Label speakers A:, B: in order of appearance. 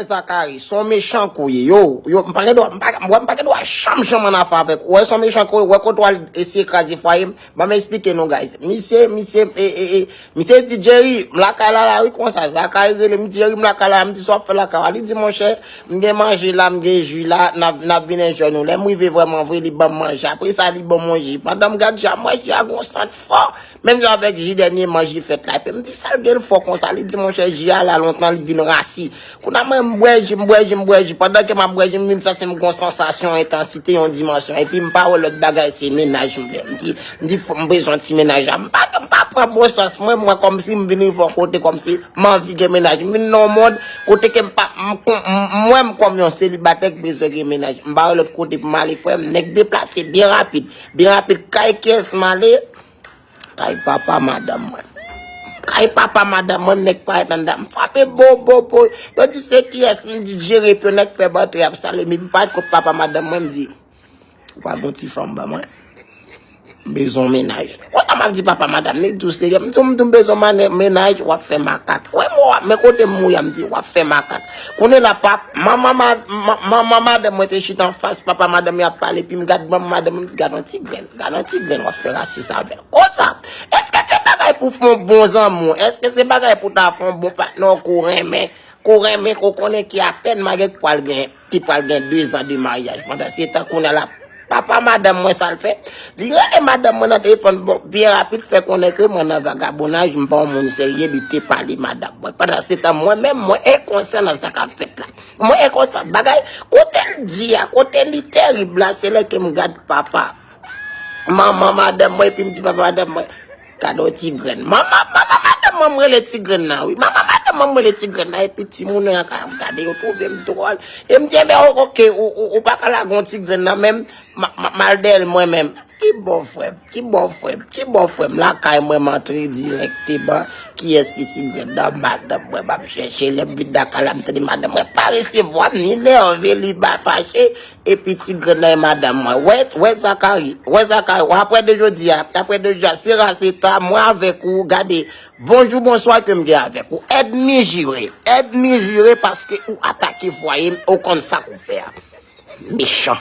A: Frè Zacharie, son mechan ke w ye. Yo, yo, m pa gen dwa, m pa, m wè m pa gen dwa janm janm an afè avèk ou. Wè son mechan ke w ye, wè kote w al eseye kraze fwaye m. Ban m esplike nou guys. Misye, misye, e, e, e, misye di Jerry, m lakay la la wi konsa. Zacharie rele m, Jerry m lakay la la. M di sa w ap fè lakay w la? Li di monchè, m gen manje la, m gen ji la, n ap, n ap vin enjoy nou. Lè m rive vrèman vre, li ban m manje. Apre sa li ban m yon ji. Pandan m gad ji a, manje a gen yon sant fò. Menm jan avèk ji dènye man ji fèt la. Epi m di sa l gen fò konsa? Li di monchè ji a la lontan li vin rasi. Kounye a mwen m bwè ji, m bwè ji, m bwè ji. Pandan ke m ap bwè ji m vin santi m gon sansasyon entansite, yon dimansyon. Epi m pa wè lòt bagay se mennaj m vle. M di, m di m bezwen ti mennaj la. M pa m pa pran bon sans mwen, m wè kòmsi m vin rive yon kote kòmsi m anvi gen mennaj. M vin nan yon mond kote ke m pa m wè m kòm yon selibatè ki bezwen gen mennaj. M pa wè lòt kote pou m ale frè m. Nèg deplase byen rapid. Byen rapid kay kiyès m ale? Kay papa madanm mwen. Kay papa madanm mwen nèg pa et anndan. M frape bo bo bo. Yo di se kiyès m di jere pou nèg fè bantè ap sale mi m pa et kot papa madanm mwen m di ou pa gon ti fanm ban mwen. M bezon mennaj. Wè sa map di papa madanm ni dou serye m di m di m bezon mennaj wap fè makak. Wè mo a men kote m mouya m di wap fè makak. Kounye la pa manman madanm mwen te chita anfas papa madanm mwen ap pale epi m gad manman madanm mwen m di gad yon ti grenn. Gad yon ti grenn wap fè rasis avèl konsa. Eske se bagay pou fon bon zanmiw, eske se bagay pou ta fon bon patnè w ke w renmen, ke w renmen ke w konnen ki apèn maryè ki pral gen ki pral gen 2 zan de maryaj pandan se tan kounya lap papa madanm mwen sal fè li rele madanm mwen nan telefòn bon byen rapid fè konnen ke mwen nan vagabonaj m pa yon moun serye li te pale madanm mwen pandan se tan mwen menm mwen enkonsyan nan sa kap fèt la. Mwen e konsa bagay kotel di a kote li terib la se lè kem gad papa manman madanm mwen epim di papa madanm mwen gad on ti grenn manman manman madanm mwen mwen rele ti grenn nan wi manman madanm mwen mwen rele ti grenn nan epi ti moun nan kap gade yo trouvem dròl em di enben ok ou paka lage on ti grenn nan menm map mal deyèl mwen menm. Ki bò frèm ki bò frèm ki bò frèm lakay mwen m antre dirèkteman kiyès ki ti grèn nan madanm mwen m ap chèche lè m vin lakay la m tande madanm mwen pa resevwa m li nève li fache epi ti grèn nan e madanm mwen wè wè zakari wè zakari w aprann de jodi a aprann de jodi a se ra se ta mwen avèk ou gade bonjou bonswa ke m gen avèk ou èdmi jire èdmi jire paske ou atake fwaye m ou konn sa k ou fè a mechan.